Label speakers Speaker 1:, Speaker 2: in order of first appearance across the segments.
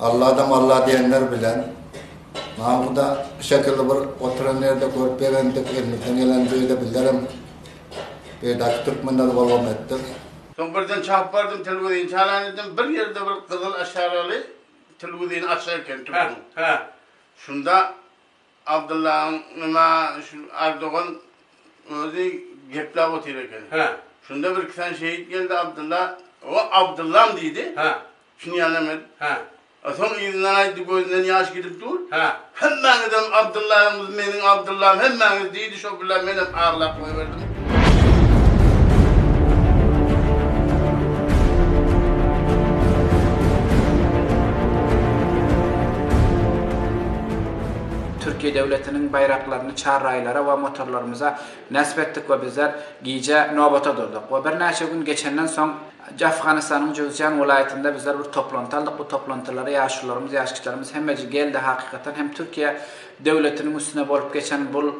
Speaker 1: Allada malla diýenler bilen Mahmuda bu şekilli bir oturan ýerde görüp begendik, elimizden geleni beýle billerem beýdaki türkmenler bolgam etdik. Soň birden
Speaker 2: çapyp bardym telwizini çalan edim, bir ýerde bir gyzyl aşaraly telwizini açyk eken türküň. Şunda Abdyllaň nima şu Ardogan özi gepläp otyr eken. Şunda bir iki sany şehit geldi Abdylla, O Abdyllam diýdi. Çynýanam-eý? Hä. A soň yzyndan aýtdy, gözünden ýaş gidip dur. Hä. Hemmäňizem Abdyllaňyz, meniň Abdyllam, hemmäňiz, diýdi, şo billa menem aglap goýberdim.
Speaker 3: Türkiýe döwletiniň baýraklaryny çarraýlara we motorlarymyza näsip etdik we bizler gije nobata durduk we birnäçe gün geçenden soň, Afganystanyň Juzýan welaýatynda bizler bir toplanty aldyk. Bu toplantylara ýaşulylarymyz, ýaşkiçilerimiz hemmeje geldi. Hakykatan hem Türkiýe döwletiniň üstüne bolup geçen bul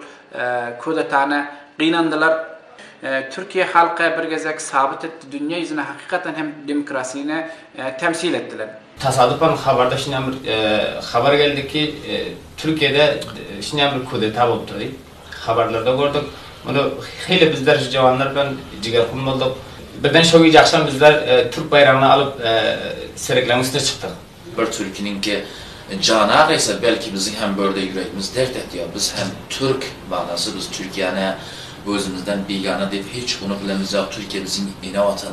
Speaker 3: kudetany gynandylar. Türkiýe halky bir gezek sabyt etdi, dünýä ýüzüne hakykatan hem demokrasini temsil etdiler. Tasadypan habarda
Speaker 4: şinýan bir habar geldi ki, Türkiýede şinýan bir kudeta bolupdyr diýip. Habarlarda gördük. Muny hili bizler şu jawanlar bilen jigerhun bolduk. Birden şo gije agşam bizler türk baýragyny alyp serekleň üstüne çykdyk. Bir türkiniňki
Speaker 5: jan agaýsa, belki biziň hem börde ýüregimiz dert etýär. Biz hem türk, manasy biz Türkiýäni özümizden bigana diýip hiç unup bilemizýok. Türkiýe biziň ene watan.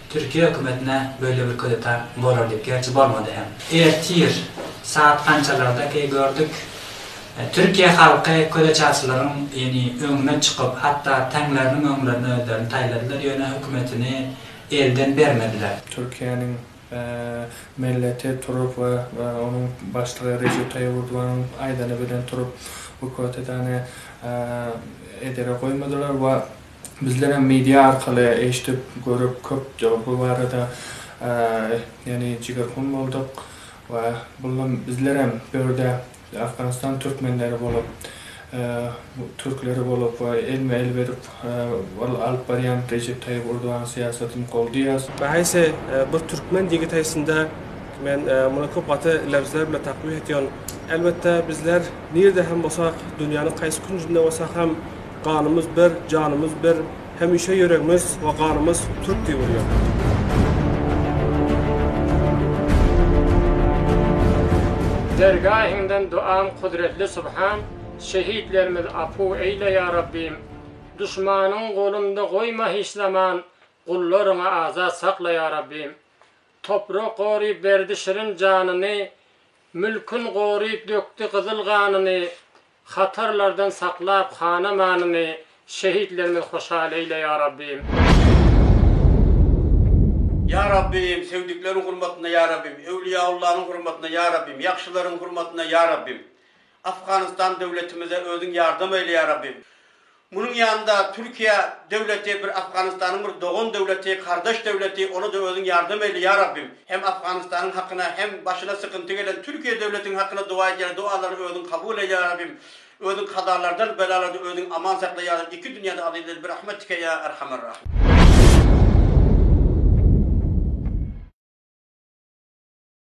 Speaker 6: Türkiýe hökümetine böyle bir kudeta bolar diyip gerçi bolmady hem. Ertir saat gançalardaky gördük Türkiýe halky köleçaçylaryň ýeni öňüne çykyp hatda taňlarynyň öňlerine özlerini taýladylar ýöne hökümetini elden bermediler. Türkiýäniň
Speaker 7: Melleti turup we onuň başlygy Rejep Taýyp Urdwanyň aýdany bilen turup bu kotedany edere goýmadylar we Bizler hem media arkaly eşdip, görüp köp bu barada ýany jigerhun bolduk we bulam bizler hem dörde Afganistan türkmenleri bolup, türkleri bolup we elme el berip ol alyp barýan Rejep Taýyp Urduwanyň syýasatyny goldaýas. Nähayse
Speaker 8: bir türkmen ýigit haysynda men muny köp gaty lebzler bilen takbih etyon. Elbetde bizler nirde hem bolsak, dünýäniň haysy künjinde bolsak hem, Ganymyz bir, janymyz bir, hemişe ýüregmiz we ganymyz türk diýip urýar.
Speaker 9: Dergahyňdan duam kudretli subhan Şehitlerimiz apu eýle ýa Rabbym Duşmanyň golunda goýma hiç zaman Gullaryňy azat sakla ýa Rabbym Toprak goryp berdi şirin janyny Mülkün goryp dökdi gyzyl ganyny, Hatarlardan saklap han-amanyny, Şehitlerimiz hoşal eýle, ýa Rabbym!
Speaker 10: Ýa Rabbym, söýdükleriň hurmatyna, ýa Rabbym, Öwliýaullanyň hurmatyna, ýa Rabbym, ýagşylaryň hurmatyna, ýa Rabbym! Afganystan döwletimize Özüň ýardam eýle, ýa Rabbym! Munuň ýanynda Türkiýe döwleti bir Afganystanyň bir dogan döwleti, kardeş döwleti, ona-da özüň ýardam eýle ýa Rabbim. Hem Afganystanyň hakyna hem başyna sykynty gelen Türkiýe döwletiň hakyna dowa edýäris, dowalary özüň kabul eý ýa Rabbim. Özüň kazalardan, belalardan özüň aman sakla ýa Rabbim. Iki dünýäde azizleri bir rahmetike ýa Erhamer Rahim.